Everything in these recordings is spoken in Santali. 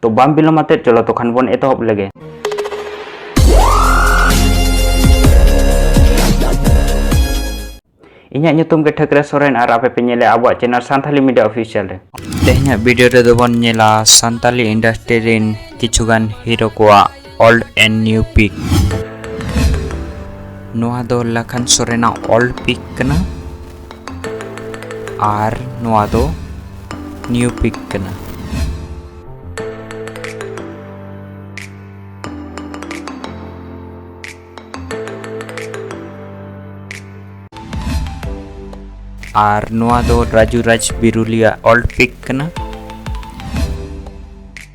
ᱛᱚ ᱵᱟᱢ ᱵᱤᱞᱚᱢ ᱟᱛᱮ ᱪᱚᱞᱚ ᱛᱚᱠᱷᱟᱱ ᱵᱚᱱ ᱮᱛᱚᱦᱚᱵ ᱞᱮᱜᱮ ᱤᱧᱟᱹᱜ ᱧᱩᱛᱩᱢ ᱜᱮ ᱴᱷᱟᱹᱠᱨᱮ ᱥᱚᱨᱮᱱ ᱟᱨ ᱟᱯᱮ ᱯᱮ ᱧᱮᱞᱮ ᱟᱵᱚᱣᱟᱜ ᱪᱮᱱᱮᱞ ᱥᱟᱱᱛᱟᱞᱤ ᱢᱤᱰᱤᱭᱟ ᱚᱯᱷᱤᱥᱤᱭᱟᱞ ᱨᱮ ᱛᱮᱦᱮᱧᱟᱜ ᱵᱷᱤᱰᱤᱭᱳ ᱨᱮᱫᱚ ᱵᱚᱱ ᱧᱮᱞᱟ ᱥᱟᱱᱛᱟᱞᱤ ᱤᱱᱰᱟᱥᱴᱨᱤ ᱨᱮᱱ ᱠᱤᱪᱷᱩᱜᱟᱱ ᱦᱤᱨᱳ ᱠᱚᱣᱟᱜ ᱚᱞᱰ ᱮᱱ ᱱᱤᱭᱩ ᱯᱤᱠ ᱱᱚᱣᱟ ᱫᱚ ᱞᱟᱠᱷᱟᱱ ᱥᱚᱨᱮᱱᱟᱜ ᱚᱞᱰ ᱯᱤᱠ ᱠᱟᱱᱟ ᱟᱨ ᱱᱚᱣᱟ ᱫᱚ ᱱᱤᱭᱩ ᱯᱤᱠ ᱠᱟᱱᱟ ᱟᱨ ᱱᱚᱣᱟ ᱫᱚ ᱨᱟᱡᱩ ᱨᱟᱡᱽ ᱵᱤᱨᱩᱞᱤᱭᱟ ᱚᱞᱰ ᱯᱤᱠ ᱠᱟᱱᱟ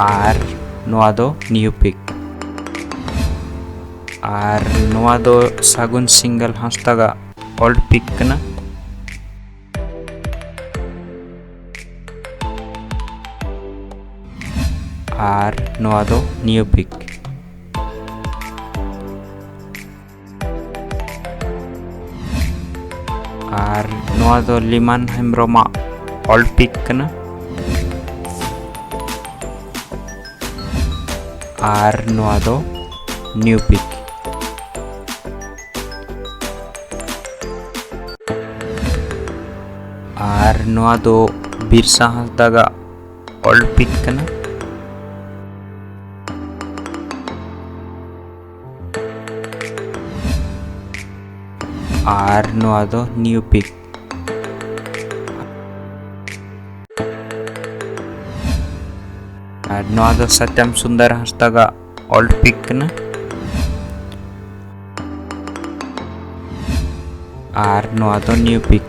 ᱟᱨ ᱱᱚᱣᱟ ᱫᱚ ᱱᱤᱭᱩ ᱯᱤᱠ ᱟᱨ ᱱᱚᱣᱟ ᱫᱚ ᱥᱟᱹᱜᱩᱱ ᱥᱤᱝᱜᱟᱞ ᱦᱟᱸᱥᱫᱟᱜᱟᱜ ᱚᱞᱰ ᱯᱤᱠ ᱠᱟᱱᱟ ᱟᱨ ᱱᱚᱣᱟ ᱫᱚ ᱱᱤᱭᱩ ᱯᱤᱠ ᱟᱨ ᱱᱚᱣᱟ ᱫᱚ ᱞᱤᱢᱟᱱ ᱦᱮᱢᱵᱨᱚᱢᱟᱜ ᱚᱞ ᱯᱤᱠ ᱠᱟᱱᱟ ᱟᱨ ᱱᱚᱣᱟ ᱫᱚ ᱱᱤᱭᱩ ᱯᱤᱠ ᱟᱨ ᱱᱚᱣᱟ ᱫᱚ ᱵᱤᱨᱥᱟ ᱦᱟᱸᱥᱫᱟᱜᱟᱜ ᱚᱞ ᱯᱤᱠ ᱠᱟᱱᱟ ᱟᱨ ᱱᱚᱣᱟ ᱫᱚ ᱱᱤᱭᱩ ᱯᱤᱠ ᱟᱨ ᱱᱚᱣᱟ ᱫᱚ ᱥᱟᱛᱭᱟᱢ ᱥᱩᱱᱫᱚᱨ ᱦᱟᱸᱥᱫᱟᱜᱟᱜ ᱚᱞ ᱯᱤᱠ ᱠᱟᱱᱟ ᱟᱨ ᱱᱚᱣᱟ ᱫᱚ ᱱᱤᱭᱩ ᱯᱤᱠ